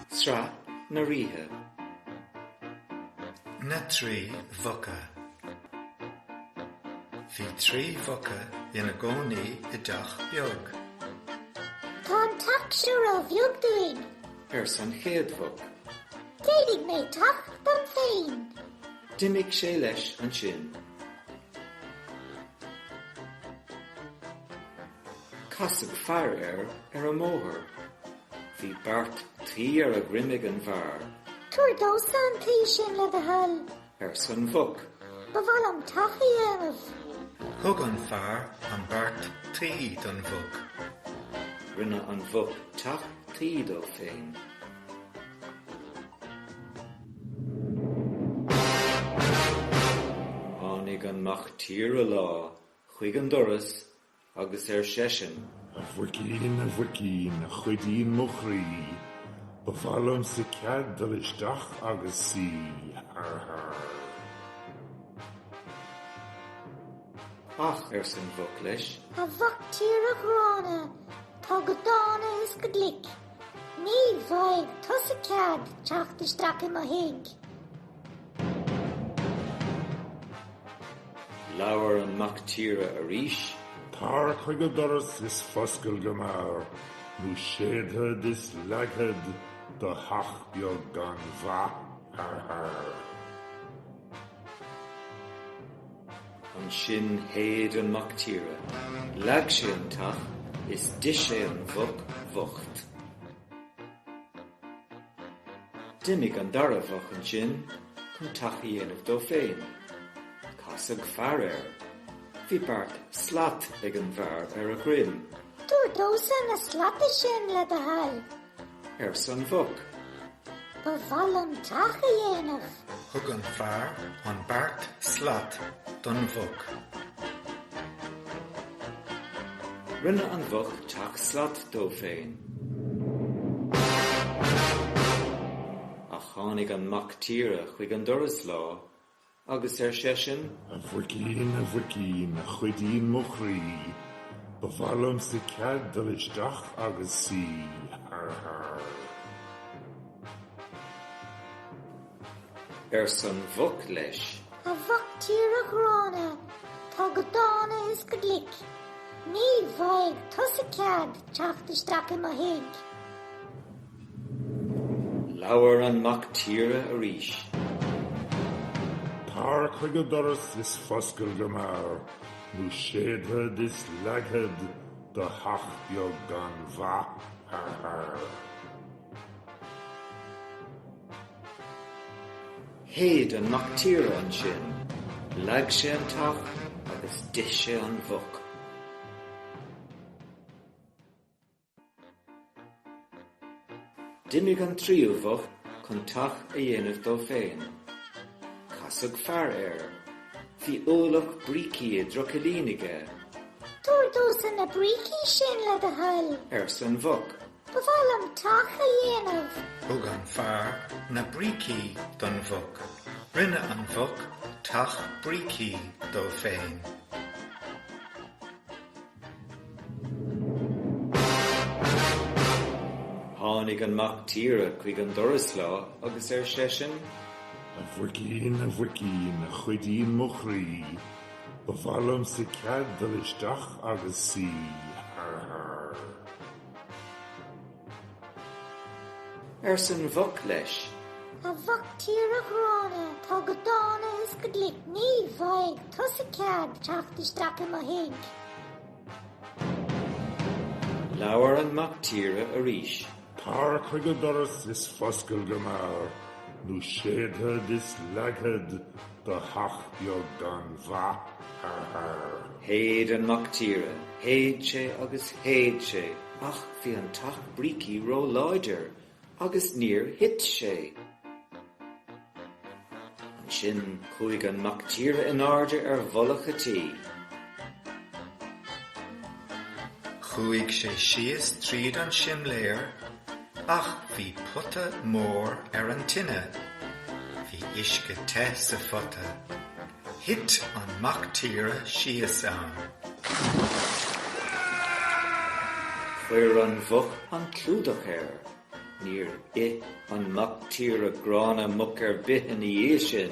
Sraith na Ríthe. Na Trí Mhuca. Bhí trí mhuca ina gcónaí i dteach beag. Tá an teach seo róbheag dúinn, arsa an chéad mhuc. Déanfaidh mé teach dom féin. D'imigh sé leis ansin. Casadh fear air ar an mbóthar. Bhí beart tuí ar a dhroim ag an bhfear. Tabhair domhsa an tuí sin, le do thoil. arsa an mhuc. Ba mhaith liom teach a dhéanamh. Thug an fear an beart tuí don mhuc. Rinne an mhuc teach tuí dó féin. Tháinig an mac tíre lá chuig an doras agus ar seisean. A mhuicín, a mhuicín, a chuidín mo chroí, ba mhaith liomsa cead dul isteach agus suí. Har har. Ach, arsa an mhuc leis. A mhac tíre ghránna, atá go dána is go glic. Ní bhfaighidh tusa cead teacht isteach i mo thigh. Labhair an mac tíre arís. Tar chuig an doras is foscail go mear, nó séidfead is leagfad do theach beag gan mhaith. Arr! Ansin shéid an mac tíre, leag sé an teach is d'ith sé an mhuc bhocht. D'imigh an dara mhuc ansin chun teach a dhéanamh dó féin. Casadh fear air. Bhí beart slat ag an bhfear ar a dhroim. Tabhair domhsa na slata sin, le do thoil. arsa an mhuc. Ba mhaith liom teach a dhéanamh. Thug an fear an beart slat don mhuc. Rinne an mhuc teach slat dó féin. Ach tháinig an mac tíre chuig an doras lá Agus ar seisean. A mhuicín, a mhuicín, a chuidín mo chroí, ba mhaith liomsa cead dul isteach agus suí. Har har. arsa an mhuc leis. A mhac tíre ghránna, atá go dána is go glic, ní bhfaighidh tusa cead teacht isteach i mo thigh. Labhair an Mac Tíre arís. Tar chuig an doras is foscail go mear, nó séidfead is leagfad do theach beag gan mhaith thar thar. Shéid an Mac Tíre ansin, leag sé an teach agus d'ith sé an mhuc. D'imigh an tríú mhuc chun teach a dhéanamh dó féin. Casadh fear air. Bhí ualach brící i dtrucailín aige. Tabhair domhsa na brící sin, le do thoil. arsa an mhuc. Ba mhaith liom teach a dhéanamh. Thug an fear na brící don mhuc. Rinne an mhuc teach brící dó féin. Tháinig an mac tíre chuig an doras lá agus ar seisean. A mhuicín, a mhuicín, a chuidín mo chroí, ba mhaith liomsa cead dul isteach agus suí. arsa an mhuc leis. A mhac tíre ghránna, atá go dána is go glic, ní bhfaighidh tusa cead teacht isteach i mo thigh. Labhair an mac tíre arís. Tar chuig an doras is foscail go mear, nó séidfead is leagfad do theach beag gan mhaith thar thar. Shéid an mac tíre, shéid sé agus shéid sé ach bhí an teach brící ró-láidir agus níor thit sé. Ansin chuaigh an mac tíre in airde ar mhullach an tí. Chuaigh sé síos tríd an simléar Ach bhí pota mór ar an tine. Bhí uisce te sa phota. Thit an mactíre síos ann. Chuir an mhuc an clúdach air. Níor ith an mactíre gránna muc ar bith ina dhiaidh sin.